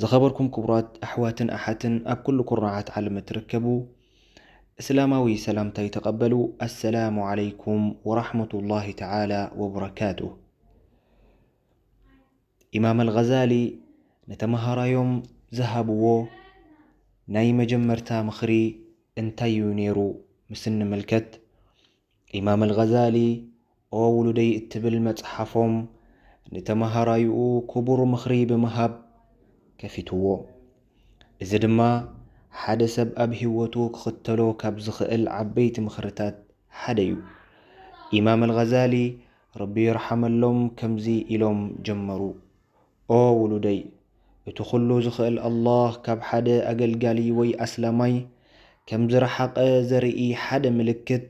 ዝኸበርኩም ክቡራት ኣሕዋትን ኣሓትን ኣብ ኩሉ ኩርናዓት ዓለም እትርከቡ እስላማዊ ሰላምታይ ተቐበሉ ኣሰላሙ ዓለይኩም ወራሕመቱላሂ ተዓላ ወበረካቱ ኢማም ኣልጋዛሊ ንተምሃራዮም ዝሃብዎ ናይ መጀመርታ ምኽሪ እንታይ እዩ ነይሩ ምስ እንምልከት ኢማም ኣልጋዛሊ ኦ ውሉደይ እትብል መጽሓፎም ንተመሃራይኡ ክቡር ምኽሪ ብምሃብ ከፊትዎ። እዚ ድማ ሓደ ሰብ ኣብ ህይወቱ ክኽተሎ ካብ ዝኽእል ዓበይቲ ምኽርታት ሓደ እዩ። ኢማም ኣልጋዛሊ ረቢ ይርሓመሎም ከምዚ ኢሎም ጀመሩ። ኦ ውሉደይ! እቲ ኹሉ ዝኽእል ኣላህ ካብ ሓደ ኣገልጋሊ ወይ ኣስላማይ ከም ዝረሓቐ ዘርኢ ሓደ ምልክት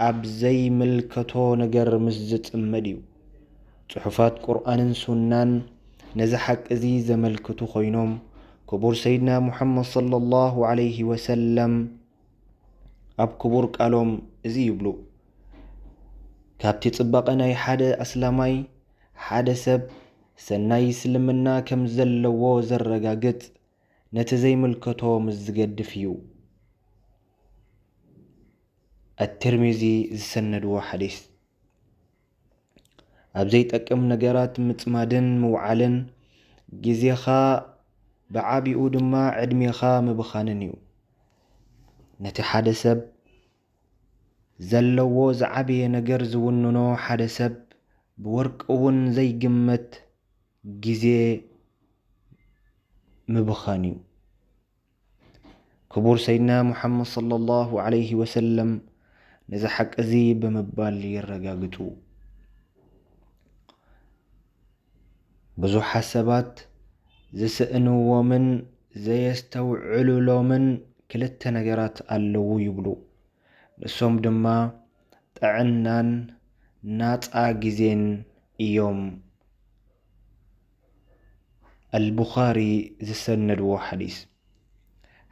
ኣብ ዘይምልከቶ ነገር ምስ ዝጽመድ እዩ። ጽሑፋት ቁርኣንን ሱናን ነዚ ሓቂ እዚ ዘመልክቱ ኮይኖም ክቡር ሰይድና ሙሓመድ ሰለላሁ ዓለይሂ ወሰለም ኣብ ክቡር ቃሎም እዚ ይብሉ፣ ካብቲ ጽባቐ ናይ ሓደ ኣስላማይ ሓደ ሰብ ሰናይ እስልምና ከም ዘለዎ ዘረጋግጽ ነቲ ዘይምልከቶ ምስ ዝገድፍ እዩ። ኣትርሚዚ ዝሰነድዎ ሓዲስ። ኣብ ዘይጠቅም ነገራት ምጽማድን ምውዓልን ግዜኻ ብዓቢኡ ድማ ዕድሜኻ ምብኻንን እዩ። ነቲ ሓደ ሰብ ዘለዎ ዝዓበየ ነገር ዝውንኖ ሓደ ሰብ ብወርቂ እውን ዘይግመት ግዜ ምብኻን እዩ። ክቡር ሰይድና ሙሓመድ ሰለላሁ ዓለይሂ ወሰለም ነዚ ሓቂ እዚ ብምባል የረጋግፁ። ብዙሓት ሰባት ዝስእንዎምን ዘየስተውዕሉሎምን ክልተ ነገራት ኣለዉ ይብሉ። ንሶም ድማ ጥዕናን ናፃ ግዜን እዮም። ኣልቡኻሪ ዝሰነድዎ ሓዲስ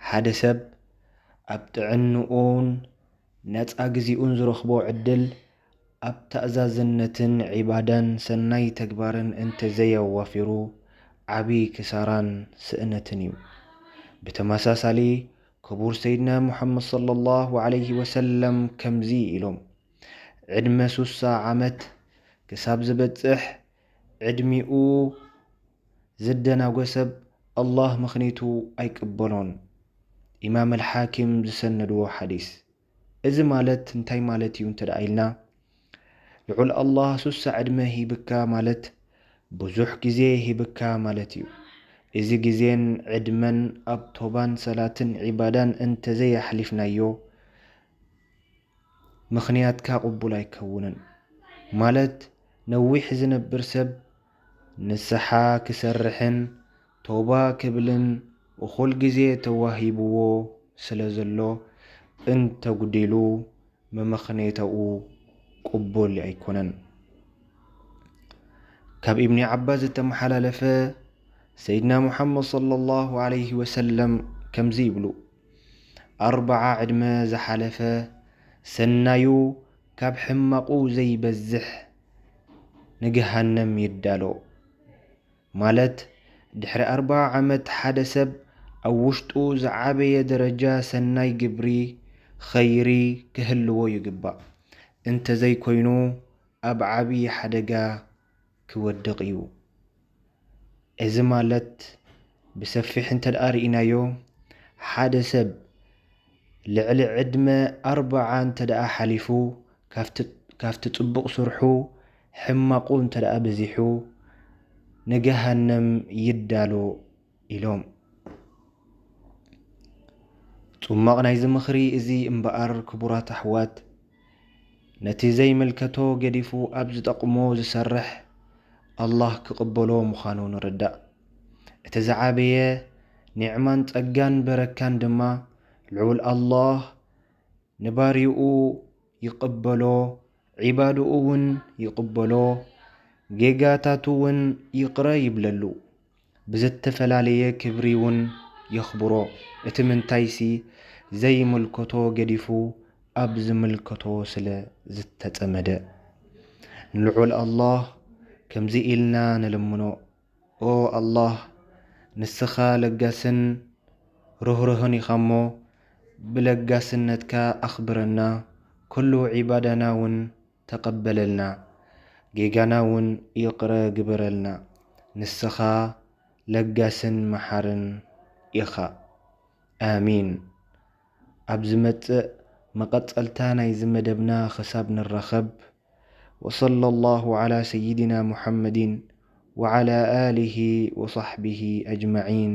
ሓደ ሰብ ኣብ ጥዕንኡን ነፃ ግዜኡን ዝረኽቦ ዕድል ኣብ ተኣዛዝነትን ዒባዳን ሰናይ ተግባርን እንተዘይኣዋፊሩ ዓቢ ክሳራን ስእነትን እዩ። ብተመሳሳሊ ክቡር ሰይድና ሙሓመድ ሰለላሁ ዓለይሂ ወሰለም ከምዚ ኢሎም፣ ዕድመ ሱሳ ዓመት ክሳብ ዝበጽሕ ዕድሚኡ ዝደናጎ ሰብ ኣላህ ምኽኒቱ ኣይቅበሎን። ኢማም ኣልሓኪም ዝሰነድዎ ሓዲስ። እዚ ማለት እንታይ ማለት እዩ እንተ ኢልና ልዑል ኣላህ ሱሳ ዕድመ ሂብካ ማለት ብዙሕ ግዜ ሂብካ ማለት እዩ። እዚ ግዜን ዕድመን ኣብ ቶባን ሰላትን ዒባዳን እንተዘይ ኣሕሊፍናዮ ምኽንያትካ ቅቡል ኣይከውንን። ማለት ነዊሕ ዝነብር ሰብ ንስሓ ክሰርሕን ተውባ ክብልን እኹል ግዜ ተዋሂብዎ ስለዘሎ እንተጉዲሉ መመኽኔታኡ ቅቡል ኣይኮነን። ካብ ኢብኒ ዓባስ ዝተመሓላለፈ ሰይድና ሙሓመድ ሰለላሁ ዓለይሂ ወሰለም ከምዚ ይብሉ፣ ኣርብዓ ዕድመ ዝሓለፈ ሰናዩ ካብ ሕማቑ ዘይበዝሕ ንገሃነም ይዳሎ። ማለት ድሕሪ ኣርብዓ ዓመት ሓደ ሰብ ኣብ ውሽጡ ዝዓበየ ደረጃ ሰናይ ግብሪ፣ ኸይሪ፣ ክህልዎ ይግባእ። እንተዘይኮይኑ ኣብ ዓብዪ ሓደጋ ክወድቕ እዩ። እዚ ማለት ብሰፊሕ እንተድኣ ርኢናዮ ሓደ ሰብ ልዕሊ ዕድመ ኣርብዓ እንተድኣ ሓሊፉ ካብቲ ጽቡቕ ስርሑ ሕማቑ እንተድኣ በዚሑ ንገሃነም ይዳሎ ኢሎም። ጹማቕ ናይዚ ምኽሪ እዚ እምበኣር ክቡራት ኣሕዋት ነቲ ዘይምልከቶ ገዲፉ ኣብ ዝጠቕሞ ዝሰርሕ ኣላህ ክቕበሎ ምዃኑ ንርዳእ። እቲ ዝዓበየ ኒዕማን ጸጋን በረካን ድማ ልዑል ኣላህ ንባርይኡ ይቕበሎ ዒባድኡ እውን ይቕበሎ ጌጋታቱ እውን ይቕረ ይብለሉ። ብዘተፈላለየ ክብሪውን የኽብሮ። እቲ ምንታይሲ ዘይምልከቶ ገዲፉ ኣብ ዝምልከቶ ስለ ዝተጸመደ። ንልዑል ኣላህ ከምዚ ኢልና ንልምኖ፣ ኦ ኣላህ ንስኻ ለጋስን ርህሩህን ኢኻ'ሞ ብለጋስነትካ ኣኽብረና፣ ኩሉ ዒባዳናውን፣ ተቀበለልና ጌጋና ውን ይቅረ ግበረልና ንስኻ ለጋስን መሓርን ኢኻ ኣሜን ኣብ ዝመጽእ መቀጸልታ ናይዚ መደብና ክሳብ ንራኸብ ወሰለላሁ ዓላ ሰይድና ሙሓመዲን ወዓላ ኣሊሂ ወሳሕቢሂ ኣጅማዒን።